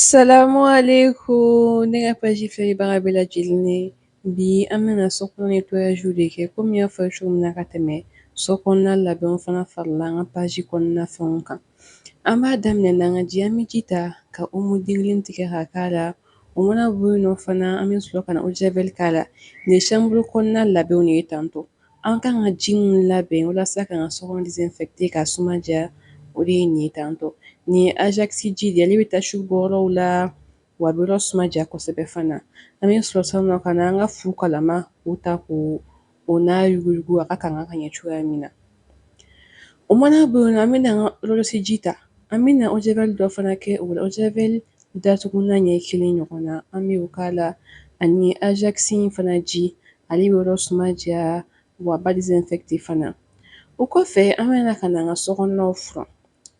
Salamualekum ne ka page filɛlibaga bɛɛ lajɛlen ye bi an bɛna so kɔnɔ nettoyage de kɛ komi n y'a fɔ cogo min na ka tɛmɛ so kɔnɔna labɛnw fana farala an ka page kɔnɔna fɛnw kan an b'a daminɛ n'an ka ji an bɛ ji ta ka omo den kelen tigɛ ka k'a la o mana bɔ yen nɔ fana an bɛ sɔrɔ ka na eau de javel k'a la nin ye chambre kɔnɔna labɛnw de ye tantɔ An ka kan ka ji minnu labɛn walasa ka an ka so désinfecter k'a suma diya o de ye nin ye tantɔ nin ye Ajax ji de ye ale bɛ tache bɔ yɔrɔw la wa a bɛ yɔrɔ suma diya kosɛbɛ fana an bɛ sɔrɔ sisan ka na an ka fu kalama o ta k'o n'a yuguyugu a ka kan ka ɲɛ cogoya min na o mana bɔ yen nɔ an bɛna an ka siyo ji ta an bɛ na eau de javel dɔ fana kɛ o la javel datugulan ɲɛ kelen ɲɔgɔn na an bɛ k'a la ani Ajax fana ji ale bɛ yɔrɔ suma diya wa a b'a désinfecter fana o kɔfɛ an bɛna ka na an ka so kɔnɔnaw furan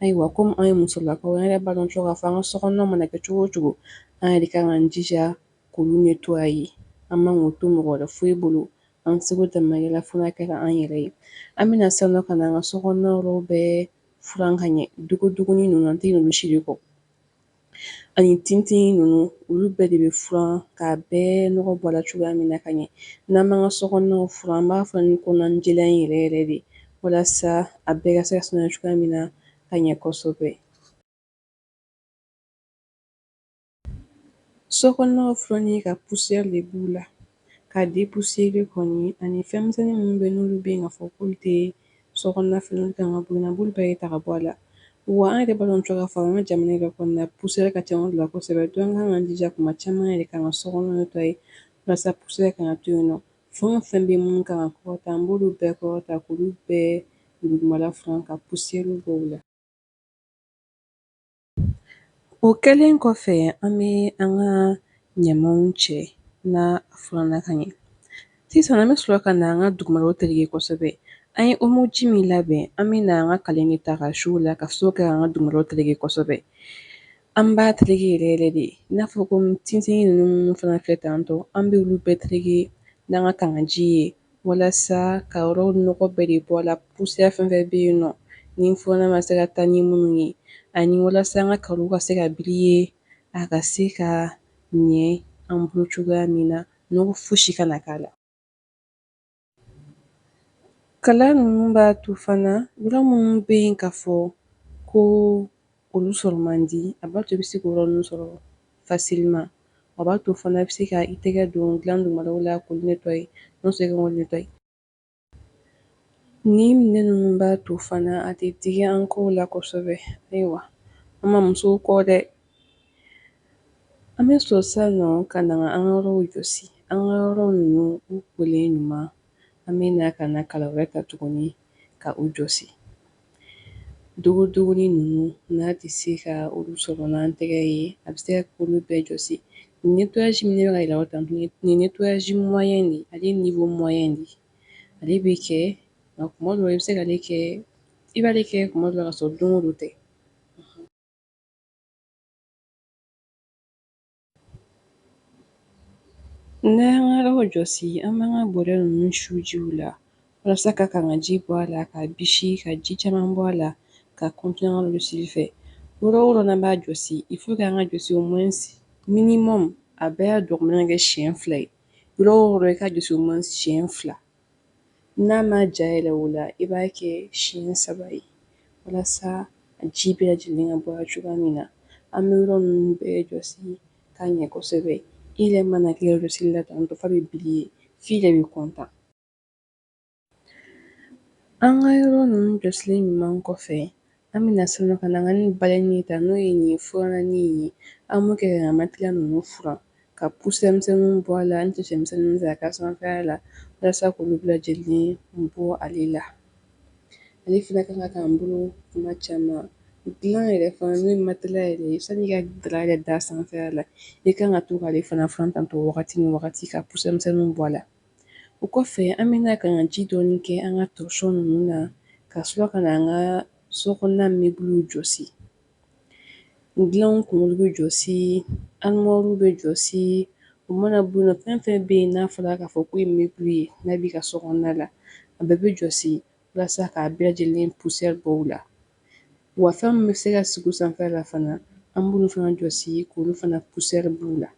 ayiwa komi anw ye musolakaw ye an yɛrɛ b'a dɔn cogo k'a fɔ an ka so kɔnɔna mana kɛ cogo cogo an yɛrɛ kan k'an jija k'olu nettoyer an man k'o to mɔgɔ wɛrɛ foyi bolo an seko damayira fo a kɛ an yɛrɛ ye an bɛna sisan ka an ka so kɔnɔna yɔrɔ bɛɛ furan ka ɲɛ dogodogonin ninnu an tɛ ɲinɛ olu si de kɔ ani tintinnin ninnu olu bɛɛ de bɛ furan k'a bɛɛ nɔgɔ bɔ a la cogoya min na ka ɲɛ n'an b'an ka so kɔnɔnaw furan an b'a furan ni kɔnɔnajɛya in yɛrɛ yɛrɛ de walasa a bɛɛ ka se ka saniya cogoya min na ka ɲɛ kosɛbɛ so kɔnɔnaw furanni ka poussière de b'u la ka dépoussiérer kɔni ani fɛnmisɛnni minnu bɛ yen n'olu bɛ yen k'a fɔ k'olu tɛ so kɔnɔna fɛnw ye olu kan ka bɔ yen nɔ an b'olu bɛɛ de ta ka bɔ a la wa an yɛrɛ b'a dɔn cogo k'a fɔ an ka jamana yɛrɛ kɔnɔna poussière ka ca a la kosɛbɛ donc an kan k'an jija tuma caman an yɛrɛ kan ka so kɔnɔ nettoyer walasa poussière kana to yen nɔ fɛn o fɛn bɛ minnu kan ka kɔrɔta an b'olu bɛɛ kɔrɔta k'olu bɛɛ dugumala furan ka poussièrew bɔ u la O kɛlen kɔfɛ an bɛ an ka ɲamanw cɛ n'a furannan ka ɲɛ sisan an bɛ sɔrɔ ka na an ka dugumala tereke kosɛbɛ an ye omo ji min labɛn an bɛ na an ka kala de ta k'a su o la ka sɔrɔ ka an ka dugumala tereke kosɛbɛ an b'a tereke yɛrɛ yɛrɛ de i n'a fɔ ko tintinnin ninnu fana filɛ tan tɔ an bɛ olu bɛɛ tereke n'an ka kangaji ye Walasa ka yɔrɔw nɔgɔ bɛɛ de bɔ a la, poussière fɛn fɛn bɛ yen nɔ ni furannan ma se ka taa ni minnu ye ani walasa an ka carreau ka se ka briller a ka se ka ɲɛ an bolo cogoya min na, nɔgɔ fosi kana k'a la. Kalan ninnu b'a to fana yɔrɔ minnu bɛ yen k'a fɔ ko Olu sɔrɔ man di a b'a to i bɛ se k'o yɔrɔ ninnu sɔrɔ facilement a b'a to fana i bɛ se ka i tɛgɛ don dilan dugumalaw la k'olu nettoyer n'o tɛ i ka olu nettoyer nin minɛn ninnu b'a to fana a tɛ digi an kɔw la kosɛbɛ ayiwa an ma musow kɔ dɛ an bɛ sɔrɔ sisan nɔ ka na an ka yɔrɔw jɔsi an ka yɔrɔ ninnu u kolen ɲuman an bɛ na ka na kala wɛrɛ ta tuguni ka u jɔsi. Dogodogonin ninnu, n'an tɛ se ka olu sɔrɔ n'an tɛgɛ ye, a bɛ se ka kɛ k'olu bɛɛ jɔsi. Nin nettoyage min ne bɛ ka yira aw la tan, nin ye nettoyage moyen de ye, ale ye niveau moyen de ye. Ale bɛ kɛ, nka kuma dɔw la, i bɛ se ka ale kɛ, i b'ale kɛ kuma dɔw la, ka sɔrɔ don o don tɛ. N'an y'an ka yɔrɔ jɔsi an b'an ka bɔrɛ ninnu su jiw la walasa ka kangaji bɔ a la k'a bisi ka ji caman bɔ a la ka continuer an ka jɔsili fɛ yɔrɔ o yɔrɔ n'an b'a jɔsi il faut que an k'a jɔsi au moins minimum a bɛɛ y'a dɔgɔmannin kɛ siɲɛ fila ye yɔrɔ o yɔrɔ i k'a jɔsi au moins siɲɛ fila n'a ma ja yɛrɛ o la i b'a kɛ siɲɛ saba ye walasa a ji bɛɛ lajɛlen ka bɔ a la cogoya min na an bɛ yɔrɔ ninnu bɛɛ jɔsi k'a ɲɛ kosɛbɛ i yɛrɛ mana kɛ jɔsili la tantɔ f'a bɛ briller f'i yɛrɛ bɛ content an ka yɔrɔ ninnu jɔsilen ɲuman kɔfɛ An bɛna sɔrɔ ka na an ka nin balai nin ta n'o ye nin furannin ye an b'o kɛ ka matelas ninnu furan ka poussière misɛnw bɔ a la ani cɛn misɛnnin ta ka sanfɛ la walasa k'olu bɛɛ lajɛlen bɔ ale la ale fana kan ka k'an bolo kuma caman dilan yɛrɛ fana n'o ye matelas yɛrɛ ye sani i ka dara yɛrɛ d'a sanfɛ la i kan ka to k'ale fana furan tantɔ wagati ni wagati ka poussière misɛnninw bɔ a la O kɔfɛ an bɛ na ka na ji dɔɔni kɛ an ka torchon ninnu na ka sɔrɔ ka na an ka so kɔnɔna meubles jɔsi. Dilanw kunkolo bɛ jɔsi, armoires bɛ jɔsi, o mana bɔ yen nɔ fɛn o fɛn bɛ yen n'a fɔra k'a fɔ k'o ye meuble ye n'a b'i ka so kɔnɔna la, a bɛɛ bɛ jɔsi walasa k'a bɛɛ lajɛlen poussière bɔ u la. Wa fɛn min bɛ se ka sigi o sanfɛ la fana an b'olu fana jɔsi k'olu fana poussière b'u la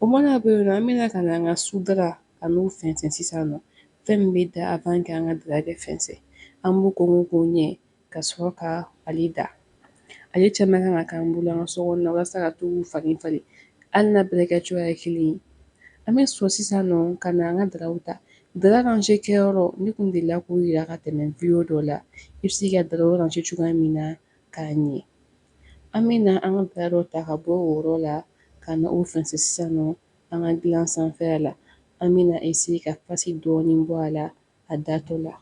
o mana bɔ yen nɔ an bɛna ka na an ka sudara ka n'o fɛnsɛn sisan nɔ fɛn min bɛ da avant que an ka dara ka fɛnsɛn an b'o ko k'o ɲɛ ka sɔrɔ ka ale da ale caman kan ka k'an bolo an ka so kɔnɔna walasa ka to k'u falen falen hali n'a bɛɛ kɛ cogoya ye kelen ye an bɛ sɔrɔ sisan nɔ ka na an ka daraw ta Dara rangé kɛyɔrɔ ne kun delila k'o yira ka tɛmɛ video dɔ la i bɛ se ka daraw ranger cogoya min na k'a ɲɛ an bɛ na an ka dara dɔ ta ka bɔ o yɔrɔ la ka na o fɛnsɛn sisan nɔ an ka gilan sanfɛya la an bɛ na essayer ka pasi dɔɔnin bɔ a la a datɔ la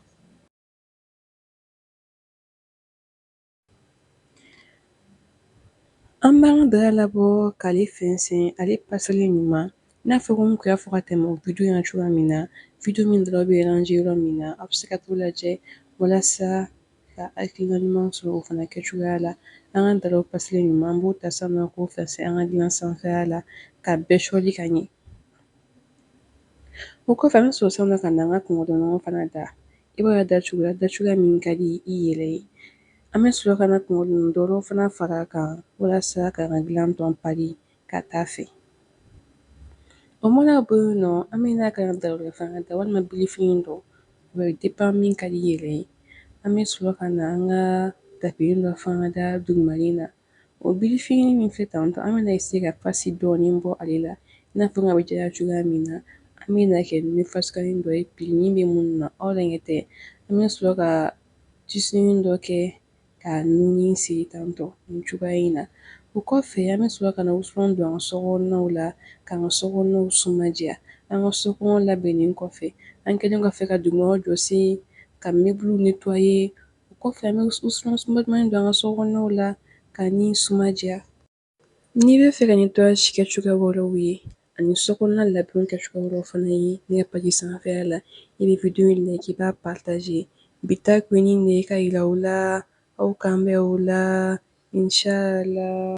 An b'an ka dara labɔ k'ale fɛnsɛn ale paselen ɲuman n'a fɔ komi n kun y'a fɔ ka tɛmɛ o video in na cogoya min na video min daraw bɛ ranger yɔrɔ min na a bɛ se ka t'o lajɛ walasa ka hakilina ɲuman sɔrɔ o fana kɛ cogoya la an ka daraw paselen ɲuman an b'o ta sisan nɔ k'o fɛnsɛn an ka dilan sanfɛya la ka bɛɛ sɔli ka ɲɛ O kɔfɛ an bɛ sɔrɔ sisan nɔ ka na an ka kunkɔrɔdonnanw fana da i b'a da cogoya da cogoya min ka di i yɛrɛ ye an bɛ sɔrɔ ka na kunkɔrɔdonnan wɛrɛw fana fara a kan walasa k'an ka dilan tɔ pari ka taa fɛ o mana bɔ yen nɔ an bɛ na an ka dara fana da walima birifini dɔ o dépend min ka di i yɛrɛ ye an bɛ sɔrɔ ka na an ka tapi dɔ fana da duguma na O birifini min filɛ tan tɔ an bɛna essayer ka pasi dɔɔnin bɔ ale la i n'a fɔ n ka bɛ diya cogoya min na an bɛna kɛ ni fasukanin dɔ ye pilini bɛ min na aw yɛrɛ ɲɛ tɛ an bɛ sɔrɔ ka tisunin dɔ kɛ ka nuni siri tan tɔ nin cogoya in na o kɔfɛ an bɛ sɔrɔ ka na wusulan don an ka sokɔnɔnaw la k'an ka sokɔnɔnaw suma diya an ka sokɔnɔ labɛnnen kɔfɛ an kɛlen kɔfɛ ka dugumanaw jɔsi ka meuble nettoyer O kɔfɛ an bɛ wusulan suma dumannin don an ka sokɔnɔnaw la ka nin suma diya. N'i bɛ fɛ ka nettoyage kɛ cogoya wɛrɛw ye ani sokɔnɔna labɛnw kɛ cogoya wɛrɛw fana ye ne ka page sanfɛla la, i bɛ video in like i b'a partager. Bi ta kun ye nin de ye ka yira aw la, aw k'an bɛn o la, inchallah.